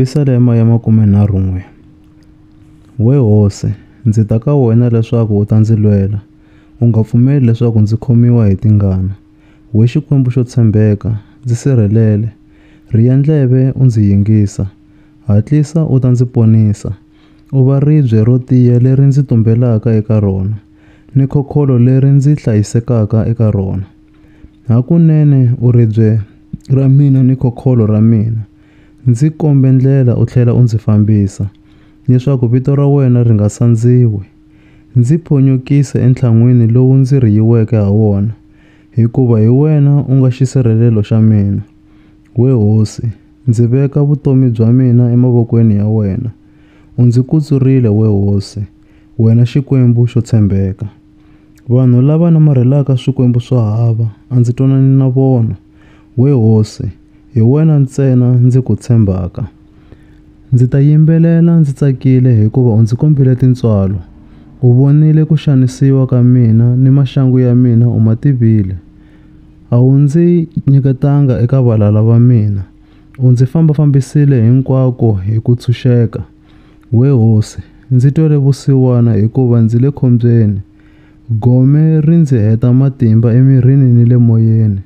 Pisalema ya makumenharhu-n'we. We hosi, ndzi ta ka wena leswaku u ta ndzi lwela, u nga pfumeli leswaku ndzi khomiwa hi tingana. We Xikwembu xo tshembeka, ndzi sirhelele, rhiya ndleve u ndzi yingisa, hatlisa u ta ndzi ponisa. U va ribye ro tiya leri ndzi tumbelaka eka rona, ni khokholo leri ndzi hlayisekaka eka rona. Hakunene u ribye ra mina ni khokholo ra mina. Ndzi kombe ndlela u tlhela u ndzi fambisa, leswaku vito ra wena ri nga sandziwi. Ndzi ponyokise entlhan'wini lowu ndzi riyiweke ha wona, hikuva hi wena u nga xisirhelelo xa mina. We hosi, ndzi veka vutomi bya mina emavokweni ya wena. U ndzi kutsurile, we hosi, wena Xikwembu xo tshembeka. Vanhu lava namarhelaka swikwembu swo hava, a ndzi twanani na vona. We hosi, hi wena ntsena ndzi ku tshembaka. Ndzi ta yimbelela ndzi tsakile hikuva u ndzi kombile tintswalo, u vonile ku xanisiwa ka mina ni maxangu ya mina u ma tivile. A wu ndzi nyiketanga eka valala va mina, u ndzi fambafambisile hinkwako hi ku tshunxeka. We hosi, ndzi twele vusiwana hikuva ndzi le khombyeni. Gome ri ndzi heta matimba emirini ni le moyeni,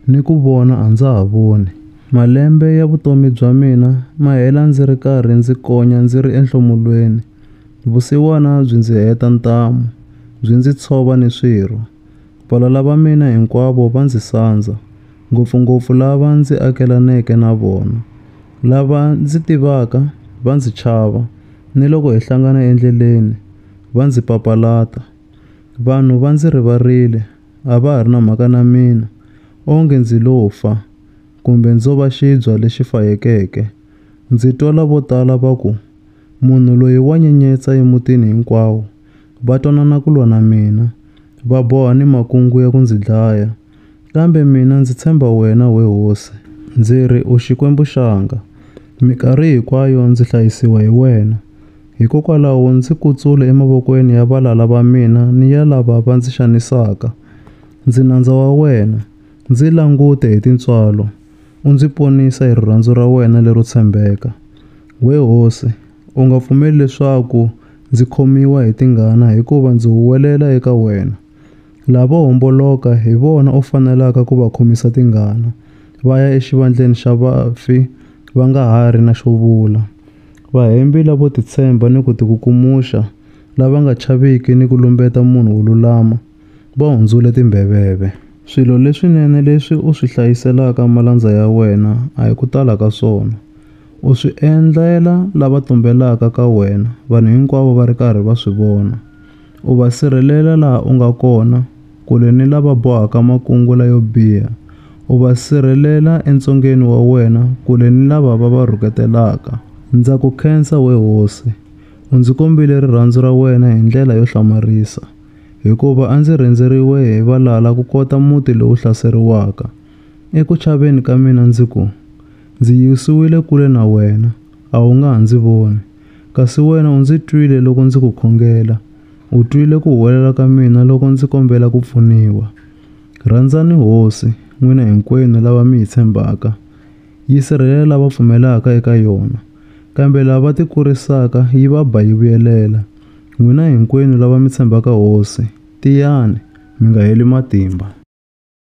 ni ku vona a ndza ha voni. Malembe ya vutomi bya mina ma hela ndzi ri karhi ndzi konya ndzi ri enhlomulweni, vusiwana byi ndzi heta ntamu, byi ndzi tshova ni swirho. Valala va mina hinkwavo va ndzi sandza, ngopfungopfu lava ndzi akelaneke na vona. Lava ndzi tivaka va ndzi chava, ni loko hi hlangana endleleni va ndzi papalata. Vanhu va ndzi rivarile, a va ha ri na mhaka na mina, onge ndzi lo fa, kumbe ndzo va xibya lexi fayekeke. Ndzi twala vo tala va ku, Munhu loyi wa nyenyetsa emutini hinkwawo. Va twanana ku lwa na mina, va boha ni makungu ya ku ndzi dlaya. Kambe mina ndzi tshemba wena, we hosi. Ndzi ri, U Xikwembu xanga. Mikarhi hinkwayo ndzi hlayisiwa hi wena. Hikokwalaho ndzi kutsule emavokweni ya valala va mina ni ya lava va ndzi xanisaka. Ndzi nandza wa wena, ndzi langute hi tintswalo. U ndzi ponisa hi rirhandzu ra wena lero tshembeka. We hosi, u nga pfumeli leswaku ndzi khomiwa hi tingana hikuva ndzi huwelela eka wena. Lavo homboloka hi vona u fanelaka ku va khomisa tingana, va ya exivandleni xa vafi va nga ha ri na xo vula. Vahembi lavo titshemba ni ku tikukumuxa, lava nga chaviki ni ku lumbeta munhu wo lulama, va hundzule timbeveve. Swilo leswinene leswi u swi hlayiselaka malandza ya wena a hi ku tala ka swona. U swi endlela lava tumbelaka ka wena vanhu hinkwavo va ri karhi va swi vona. U va sirhelela laha u nga kona, kule ni lava bohaka makungula yo biha. U va sirhelela entsongeni wa wena, kule ni lava va va rhuketelaka. Ndza ku khensa, we hosi, u ndzi kombile rirhandzu ra wena hi ndlela yo hlamarisa. hikuva a ndzi rhendzeriwe hi valala ku kota muti lowu hlaseriwaka. Eku chaveni ka mina ndzi ku, Ndzi yisiwile kule na wena, a wu nga ha ndzi voni. Kasi wena u ndzi twile loko ndzi ku khongela, u twile ku huwelela ka mina loko ndzi kombela ku pfuniwa. Rhandzani Hosi, n'wina hinkwenu lava mi yi tshembaka. Yi sirhelela lava pfumelaka eka yona, kambe lava tikurisaka yi va ba yi vuyelela. N'wina hinkwenu lava mi tshembaka Hosi, tiyani, mi nga heli matimba.